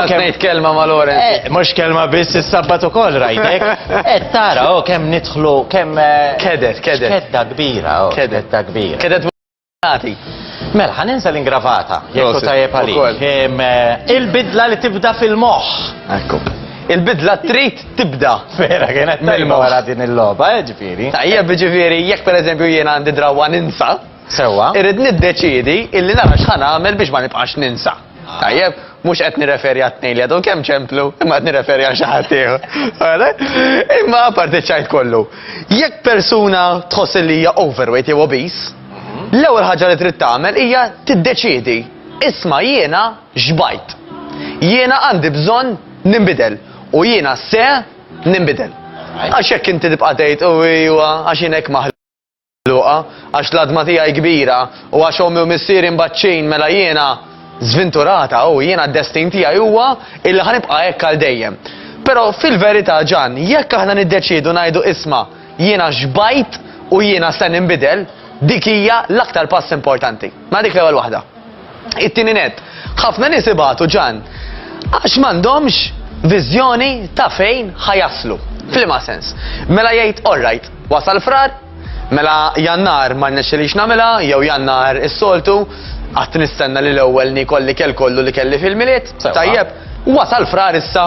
Għasnejt kelma ma' Lorenz. Eh, Mux kelma biss il-sabbat u koll rajtek. Et eh, tara, o oh, kem nitħlu, kem. Eh, kedet, kedet. Kedda kbira, o. Oh, kedet. Kedda kbira. Għati. Mela, ħan ninsa l-ingravata, jekku tajjeb għalik. Eh, il-bidla li tibda fil-moħ. Ekku. Il-bidla trid tibda. Vera, kienet tajma wara din il-loba, eh, ġifiri. Tajjeb, ġifiri, jekk per eżempju jien għandi drawa ninsa. Sewa. Irrid niddeċidi illi nara x'ħan għamel biex ma nibqax ninsa. Tajjeb, mhux qed nirreferi għat-tnejn li għadhom kemm ċemplu, imma qed nirreferi għal xi ħadd ieħor. Imma parti ċajt kollu. Jekk persuna tħoss li hija overweight jew obese, l-ewwel ħaġa li trid tagħmel hija tiddeċiedi isma' jiena xbajt. Jiena għandi bżonn nimbidel u jiena se nimbidel. Għax jekk inti tibqa' tgħid u għax inek maħlu. Luqa, għax l-adma tiegħi kbira u għax ommi u missieri mbaċċin mela jiena żvinturata u jiena d-destin tiegħi huwa illi ħanibqa' hekk għal dejjem. Però fil-verità ġan, jekk aħna niddeċiedu ngħidu isma' jiena xbajt u jiena se ninbidel, dik hija l-aktar pass importanti. Ma dik l-ewwel waħda. It-tieni net, ħafna nies ibatu ġan għax m'għandhomx viżjoni ta' fejn ħajaslu. Flima sens. Mela jgħid all right, wasal frar, Mela jannar ma nexxilix namela, jew jannar is-soltu, għat nistenna li l-ewwel nikolli kell kollu li kelli fil-miliet, tajjeb, wasal frar issa,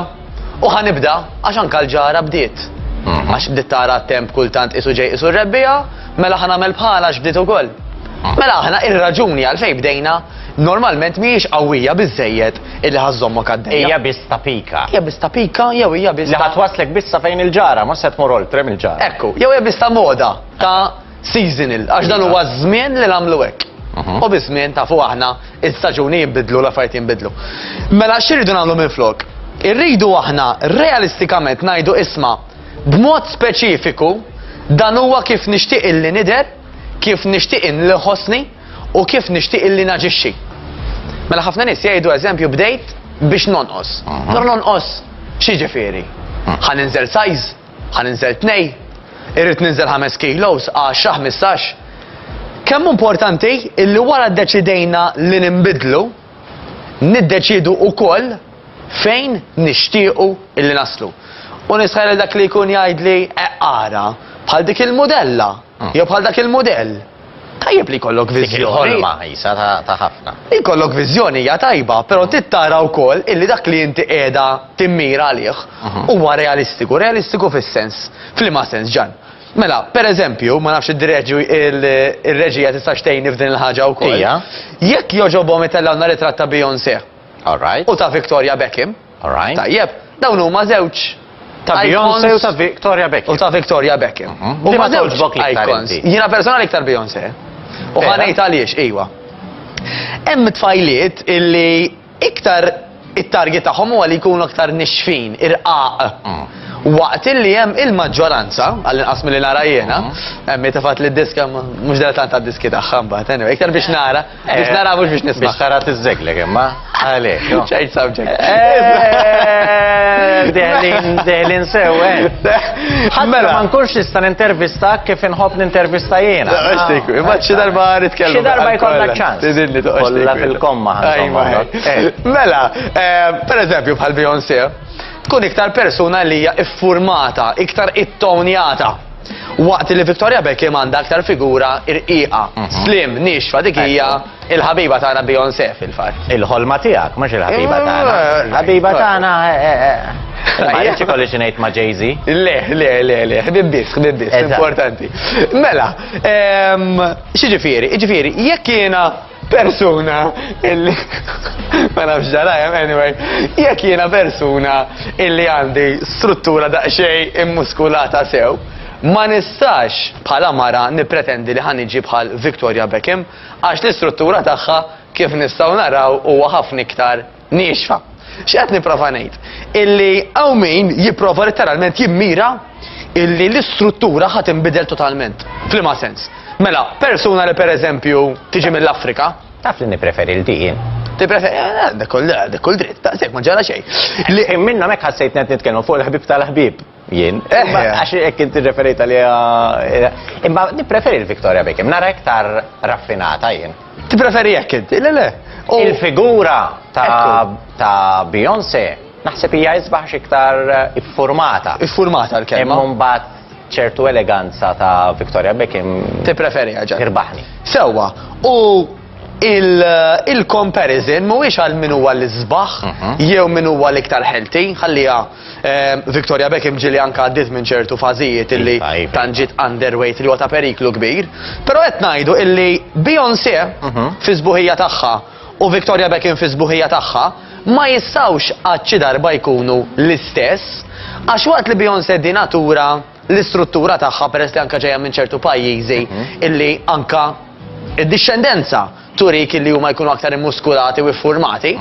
U ħa nibda, għax anka l-ġara bdiet. Mhm. Għax bdiet tara temp kultant isu ġej isu rebbija, mela ħa nagħmel bħala għax bdiet ukoll. Mhm. Mela aħna ir-raġuni għalfejn bdejna normalment mhijiex qawwija biżejjed illi ħażommok għaddejja. Hija biss ta' pika. Hija biss ta' pika jew hija biss. Li ħatwaslek bissa fejn il-ġara, ma se tmur oltre mill-ġara. Ekku, jew hija biss ta' moda ta' seasonal, għax dan huwa żmien li nagħmlu hekk. Mhm. U biż-żmien tafu aħna il-staġuni jinbidlu la fajt jinbidlu. Mela x'irridu nagħmlu minn flok? Irridu aħna realistikament ngħidu isma' b'mod speċifiku dan huwa kif nixtieq illi nidher, kif nixtieq li ħossni u kif nixtieq illi naġixxi. Mela ħafna nies jgħidu eżempju bdejt biex nonqos. Mhm. Nor nonqos xi ġifieri? Mhm. Ħan inżel size? Ħa ninżel tnej? Irrid ninżel ħames kilos, għaxra, ħmistax? Kemm hu importanti illi wara ddeċidejna li ninbidlu, niddeċiedu wkoll fejn nixtiequ illi naslu. U nisħaq lil dak li jkun jgħidli eqara bħal dik il-mudella. Jew bħal dak il-mudell. Tajjeb li jkollok viżjoni. Ħolma jisa ta' ħafna. Jkollok viżjoni hija tajba, però trid tara wkoll illi dak li inti qiegħda timmira għalih mhm. huwa realistiku, realistiku fis-sens. F'liema sens ġan. Mela, per eżempju, ma nafx id-direġi il-reġija tista' xtejni f'din il-ħaġa wkoll. Jekk joġobhom itellgħu nhar it-tratt ta' Beyoncé. All right. U ta' Victoria Beckham. Alright. Tajjeb, dawn huma żewġ Ta' Beyoncé u ta' Victoria Beckham. U ta' Victoria Beckham. Mhm. U ma żewġ bok li icons. Jiena personali iktar Beyoncé. U ħanejt għaliex, iwa. Hemm tfajliet illi iktar it-target tagħhom huwa li jkunu aktar nixfin, irqaq. Mm. Waqt illi hemm il-maġġoranza, għall-inqas milli nara jiena, mm. hemm tefat li d-diska mhux dela tant għad-diski tagħha mbagħad, iktar biex nara. Biex nara mhux biex nisma'. Biex tara tiżżeglek imma għalek. Change subject. Deħlin, deħlin sew, Ħadd ma nkunx nista' nintervista kif inħobb nintervista jiena. Imma xi darba nitkellmu. Xi darba jkollna ċans. Tidilli toqgħodx. fil-komma. Mela, per eżempju bħal Beyoncé, tkun iktar persuna li hija iffurmata, iktar ittonjata. Waqt li Victoria Beckham għandha aktar figura irqiqa, mhm. slim, nixfa dik hija il-ħabiba tagħna Beyoncé fil-fatt. Il-ħolma tiegħek, mhux il-ħabiba eh, tagħna. Eh, il-ħabiba tagħna eh, Għaliex ikolli xinejt ma' Jay-Z? Le, le, le, le, ħbibbis, ħbibbis, importanti. Mela, ehm, xieġifieri, ġifieri, jekk jiena persuna illi ma nafx darajem, anyway, jekk jiena persuna illi għandi struttura daqxej immuskulata sew, ma nistax bħala mara nipretendi li ħaniġi bħal Victoria Beckham għax l-istruttura tagħha kif nistgħu naraw huwa ħafna iktar Niexfa. X'qed nipprova ngħid? Illi hawn min jipprova letteralment jimmira illi l-istruttura ħadd inbidel totalment. Flima sens. Mela, persuna li pereżempju tiġi mill-Afrika. Taf li nippreferi l-dijin. Tippreferi, eh, eh, dak kull dritt, daqshekk ma ġara xejn. Li minna mek ħassejt net nitkellmu fuq il-ħbib tal-ħbib. Jien. Imma għax hekk inti referejt għaliha. Imma nippreferi l-Victoria Beckham, nara iktar raffinata jien. Tippreferi hekk inti, le le. Il-figura ta' Beyoncé naħseb hija isbaħx iktar iffurmata. Iffurmata l-kelma. Imma mbagħad ċertu eleganza ta' Victoria Beckham. Tippreferi ħaġa. Irbaħni. Sewwa. U il-comparison mhuwiex għal min huwa l-isbaħ mhm. jew min huwa l-iktar ħelti, ħalliha ehm, Victoria Beckham ġili anka għaddiet minn ċertu fażijiet illi iva, iva. tanġiet underweight li huwa ta' periklu kbir, però qed ngħidu illi Beyoncé mhm. fi sbuħija tagħha u Victoria Beckham fi sbuħija tagħha ma jistawx għadċi darba jkunu l-istess, għax waqt li Beyoncé di natura l-istruttura tagħha peress li anka ġejja minn ċertu pajjiżi illi anka id-dixxendenza turik illi huma jkunu aktar immuskulati u iffurmati.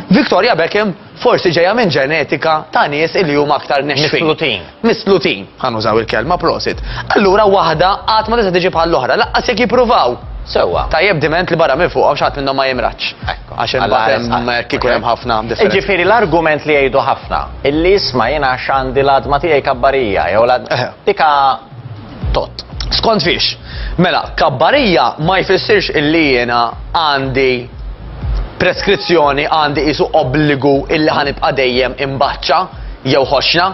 Victoria Beckham forsi ġejja minn ġenetika ta' nies illi huma aktar nexfin. Mislutin. Mislutin, ħanużaw il-kelma prosit. Allura waħda qatt ma tista' tiġi bħall-oħra, laqqas jekk jippruvaw. Sewwa. Tajjeb diment li barra minn fuqhom xi ħadd minnhom ma jimradx. Ekku. Għax imbagħad hemm kieku hemm ħafna differenza. Jiġifieri l-argument li jgħidu ħafna Illi jisma' jien għax għandi l-għadma tiegħi kabbarija jew l dika tot. Skont fiex? Mela, kabbarija ma jfissirx illi jiena għandi preskrizzjoni għandi isu obbligu illi ħanibqa' dejjem imbaċċa jew ħoxna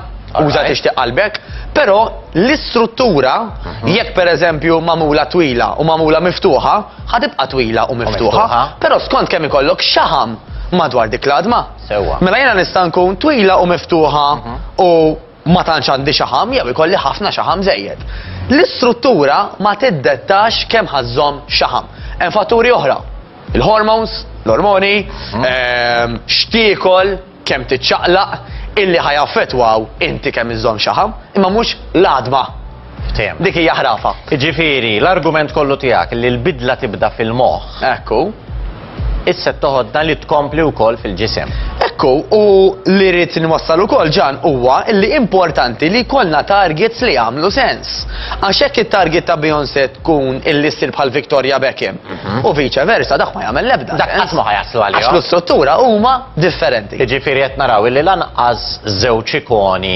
uża tixtieq qalbek, però l-istruttura mhm. jekk pereżempju magħmula twila u magħmula miftuħa, ħadibqa' twila u miftuħa, però skont kemm ikollok xaħam madwar dik l-adma. Sewwa. Mela jiena nista' nkun twila u miftuħa u ma tantx għandi xaħam jew ikolli ħafna xaħam żejjed. L-istruttura ma tiddettax kemm ħa żżomm xaħam. Hemm fatturi oħra. Il-hormones, l-ormoni, ehm, x'tiekol, kemm tiċċaqlaq, illi ħa jaffettwaw inti kemm iżżomm xaħam, imma mhux l-għadma. Ftehim. Dik hija ħrafa. Ġifieri, l-argument kollu tiegħek li l-bidla tibda fil-moħħ. Ekku. Issa toħodna li tkompli wkoll fil-ġisem. Ekku, u li rrid nwassal ukoll ġan huwa li importanti li jkollna targets li jagħmlu sens. Għax hekk it-target ta' Beyoncé tkun illi ssir bħal Victoria Beckham mhm. u viċa versa dak ma jagħmel l-ebda. Dak qatt ma ħajaslu għalih. Għax l-istruttura huma differenti. Jiġifieri qed naraw li lanqas żewġ ikoni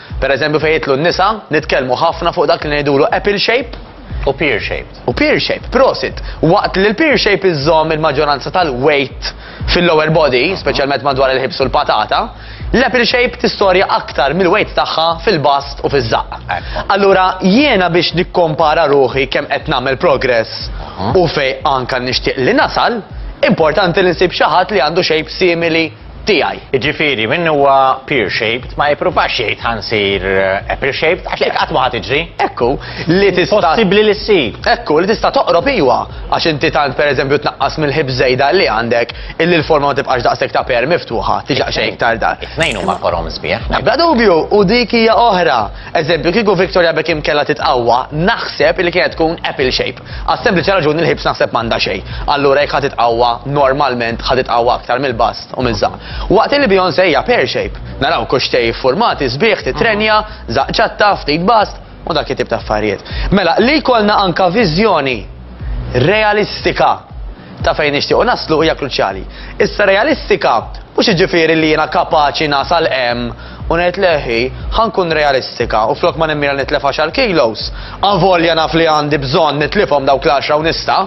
Per eżempju fejn jitlu n-nisa, nitkellmu ħafna fuq dak li ngħidulu apple shape, U peer shaped. U peer shape, prosit. Waqt li l-peer shape iżżomm il-maġġoranza tal-weight fil-lower body, speċjalment madwar il-ħibs u l-patata, l-apple shape tistorja aktar mill-weight tagħha fil-bast u fiż-żaqq. Allura jiena biex nikkompara ruħi kemm qed nagħmel progress u fej anka nixtieq li nasal, importanti li nsib xi ħadd li għandu shape simili tiegħi. Jiġifieri min huwa pear-shaped ma jippruvax jgħid ħa nsir apple-shaped għax hekk qatt ma ħa tiġri. Hekk hu li tista'. Impossibbli li ssir. Hekk hu li tista' toqrob iwa, għax inti tant pereżempju tnaqqas mill-ħips żejda li għandek illi l-forma ma tibqax daqshekk ta' pear miftuħa, tiġi daqsxejn iktar dar. It-tnejn huma forom sbieħ. Bla dubju, u dik hija oħra. Eżempju, kieku Victoria Beckham kellha titqawwa, naħseb li kienet tkun apple-shaped. Għas-sempliċi raġuni li l-ħibs naħseb m'għandha xejn. Allura jekk ħa titqawwa, normalment ħa titqawwa aktar mill-bast u miż-żaqq. Waqt li Beyoncé hija pear shape. Naraw kuxxtej iffurmati sbieħ, titrenja, żaqq ċatta, ftit bast, u dak it-tip ta' affarijiet. Mela, li jkollna anke viżjoni realistika ta' fejn nixtiequ naslu hija kruċjali. Issa realistika mhux jiġifieri li jiena kapaċi nasal hemm U ngħid leħi, ħa nkun realistika u flok ma nimmira nitlef għaxar kilos, avolja naf li għandi bżonn nitlifhom dawk l-għaxra u nista',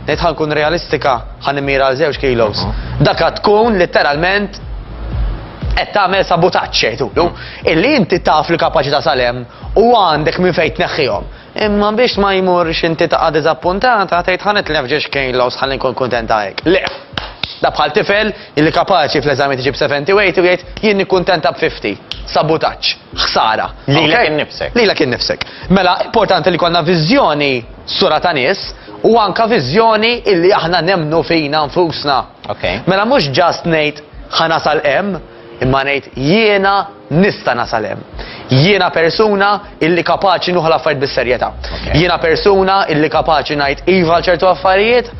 ngħid ħa nkun realistika, ħa nimmira għal żewġ kilos. Dak għad tkun litteralment qed tagħmel sabutaġġ jgħidulu, illi inti taf l-kapaċità sal-hemm u għandek minn fejn tneħħihom. Imma biex ma jmurx inti taqa' diżappuntata tgħid ħa nitlef ġiex kilos ħalli nkun kuntenta hekk. Le! Da bħal tifel illi kapaċi fl-eżami tiġib 70 u 80 u jgħid jien nikkuntenta b' 50. Sabutaġġ. Ħsara. Lilek innifsek. Lilek innifsek. Mela importanti li jkollna viżjoni sura ta' nies u anke viżjoni illi aħna nemmnu fina nfusna. Mela mhux ġast ngħid ħa nasal hemm, imma ngħid jiena nista' nasal hemm. Jiena persuna illi kapaċi nuħu l-affarijiet bis-serjetà. Jiena persuna illi kapaċi ngħid iva għal ċertu affarijiet,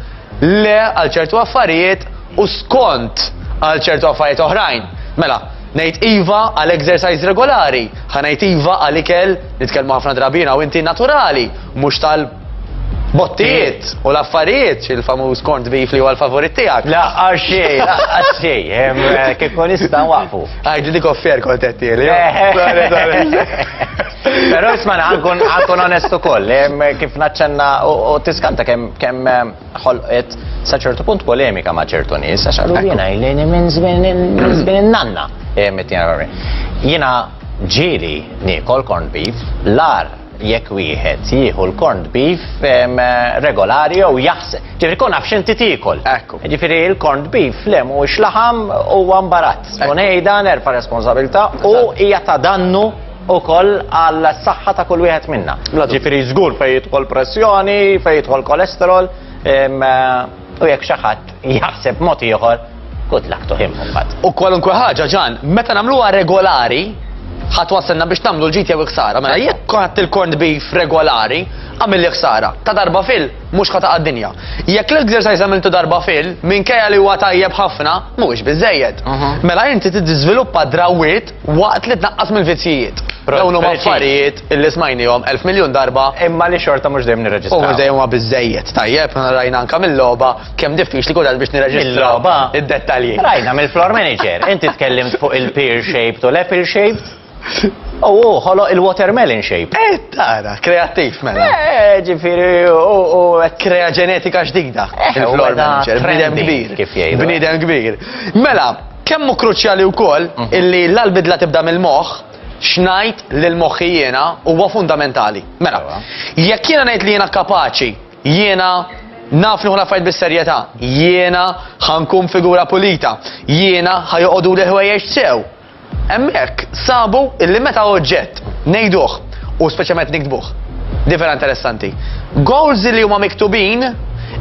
le għal ċertu affarijiet u skont għal ċertu affarijiet oħrajn. Mela, ngħid iva għal exercise regolari, ħa ngħid iva għal ikel, nitkellmu ħafna drabina u inti naturali, mhux tal Bottijiet u l-affarijiet, il-famuż kont bif li huwa l-favorit tiegħek. La xej, la xej, eh, kif kun nista' waqfu. Għajdi dik offer kont qed tieli. Però isma' ħankun ħankun onest ukoll, eh, kif naċċenna u tiskanta kemm kemm eh, ħolqet sa ċertu punt polemika ma' ċertu nies, għax għallu jiena jlejni minn żmien in-nanna. Jiena ġieli niekol corn beef, l-ar jekk wieħed jieħu l-corned beef regolari jew jaħseb. Ġifieri kun nafx inti tiekol. Ekku. Ġifieri l-corned beef le mhuwiex laħam huwa mbarazz. U ngħidha nerfa' responsabilità u hija ta' dannu ukoll għal saħħa ta' kull wieħed minna. Ġifieri żgur fejn jidħol pressjoni, fejn jidħol kolesterol, U jekk xi ħadd jaħseb mod ieħor, good luck to him mbagħad. U kwalunkwe ħaġa ġan, meta nagħmluha regolari, ħadd wassenna biex tagħmlu l-ġid jew ħsara. Mela jekk ħadd il-corned beef regolari, għamil li ħsara. Ta' darba fil, mhux ħata għad-dinja. Jekk l-exercise għamiltu darba fil, minkejja li huwa tajjeb ħafna, mhuwiex biżejjed. Mhm. Mela inti tiżviluppa drawwiet Waqt li tnaqqas mill-vizzjijiet. Dawn huma affarijiet li smajnihom elf miljun darba. Imma li xorta mhux dejjem nirreġistraw. U mhux dejjem huma biżejjed. Tajjeb, rajna anke mill-logħba kemm diffiċli kultant biex nirreġistraw id-dettalji. Rajna mill-floor manager. Inti tkellimt fuq il-pear shaped u l-apple shaped. U hu ħoloq il-watermelon shape. Eh, tara, kreattiv mela. Eh, ġifieri u krea ġenetika ġdida. Il-floor manager, bniedem kbir. Kif jgħidu. Bniedem kbir. Mela, Kemm hu kruċjali wkoll illi l-bidla tibda mill-moħħ, x'ngħid lil moħħi jiena huwa fundamentali. Mela, jekk jiena ngħid li jiena kapaċi, jiena naf nieħu l-affarijiet bis-serjetà, jiena ħankun figura pulita, jiena ħajoqogħdu li ħwejjeġ sew. Hemmhekk sabu illi meta oġġett ngħiduh u speċjalment niktbuh. Din vera interessanti. Goals li huma miktubin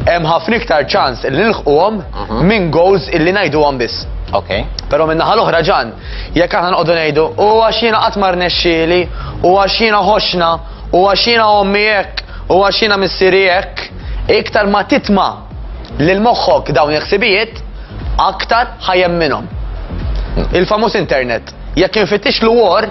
hemm ħafna iktar ċans li nilħquhom mhm. minn goals illi ngħiduhom biss. Ok. Però minn naħa l-oħra ġan, jekk aħna nqogħdu ngħidu u għax jiena qatt mar nexxieli, u għax jiena ħoxna, u għax jiena ommi hekk, u għax jiena missieri hekk, iktar ma titma' lil moħħok dawn il-ħsibijiet, aktar ħajem minnhom. Hmm. Il-famuż internet, jekk infittix l-war,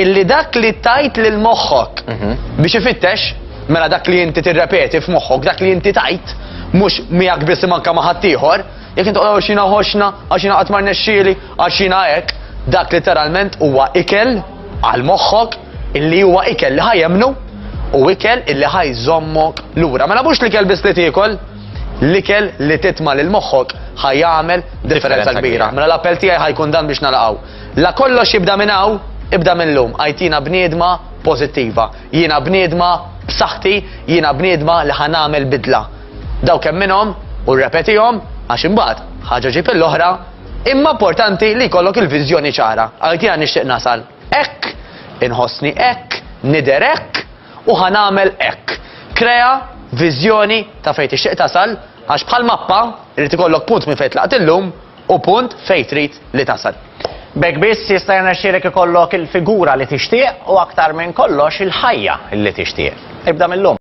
Illi dak li tajt lil moħħok mhm. biex ifittex, mela dak li inti tirrepeti f'moħħok, dak li inti tajt, mhux miegħek biss manka ma' ħaddieħor, jekk inti qogħdu xina ħoxna, għax jiena qatt ma rnexxieli, għax jiena hekk, dak literalment huwa ikel għal moħħok illi huwa ikel li ħajemnu u ikel illi ħajżommok lura. Mela mhux l-ikel biss li tiekol, l-ikel li titma lil moħħok ħajjamel differenza kbira. Mela l-appell tiegħi ħajkun dan biex nalaqgħu. La kollox jibda minn hawn, ibda mil-lum, għajtina bniedma pożittiva. Jiena bniedma b'saħħti, jiena bniedma li ħa nagħmel bidla. Daw kemm minnhom, u rrepetihom, għax imbagħad, ħaġa ġib il-oħra, imma importanti li jkollok il-viżjoni ċara. Għajtina nixtieq nasal hekk, inħossni hekk, nidher hekk, u ħa nagħmel hekk. Krea viżjoni ta' fejn tixtieq tasal, għax bħal mappa, irid ikollok punt minn fejn tlaqt illum, u punt fejn trid li tasal. B'hekk biss jista' jirnexxielek ikollok il-figura li tixtieq u aktar minn kollox il-ħajja li tixtieq. Ibda mil-lum.